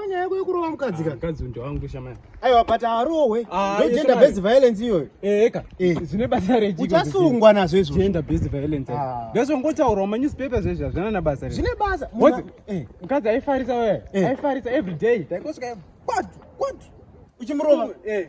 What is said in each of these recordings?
Nyaya yako yekurova mukadzi ka. Mukadzi uyu ndewangu shamai. Aiwa but arohwe. Ah, yes, Gender based shamai. violence iyoyo. Eh, eka. Eh. Zvine basa rejiko. Uchasungwa nazvo izvo. Gender based violence. Ah. Ndezvo ngotaura muma newspaper zvezvi hazvina na basa rejiko. Zvine basa. Mwana- Motsi. Eh. Mukadzi aifarisa wewe. Eh. Aifarisa every day. Taikosvika kwatu kwatu. Uchimurova. Eh.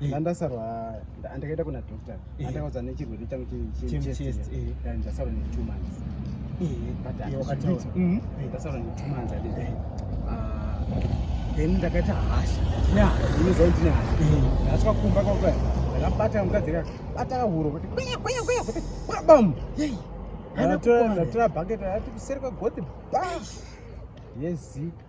ndandasarwa ndakaita kuna doctor andakaudza nechirwere changu chechest ndasarwa ne two months mm-hmm. ndasarwa ne two months then ndakaita hasha inoziva kuti ndine hasha ndasvika kumba kwakwa ndakabata mukadzi akabata kahuro kuti kweya kweya kweya kuti bam ndatora bucket ati kuseri kwegoti ba yezi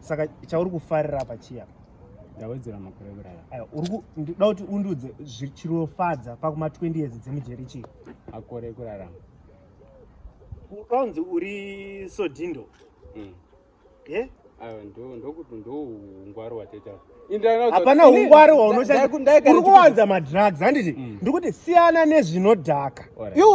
saka chauri kufarira apa chiya ndawedzera makore kurara aya uri kuda kuti undudze zvichirofadza pakuma 20 years dzemujeri chii makore ekurarama ukanzi uri sodindo mm. ye ndokuti ndoungwari wateta hapana ungwari hwaunoshandisa uri kuwanza madrugs handiti mm. ndikuti siyana nezvinodhaka iwe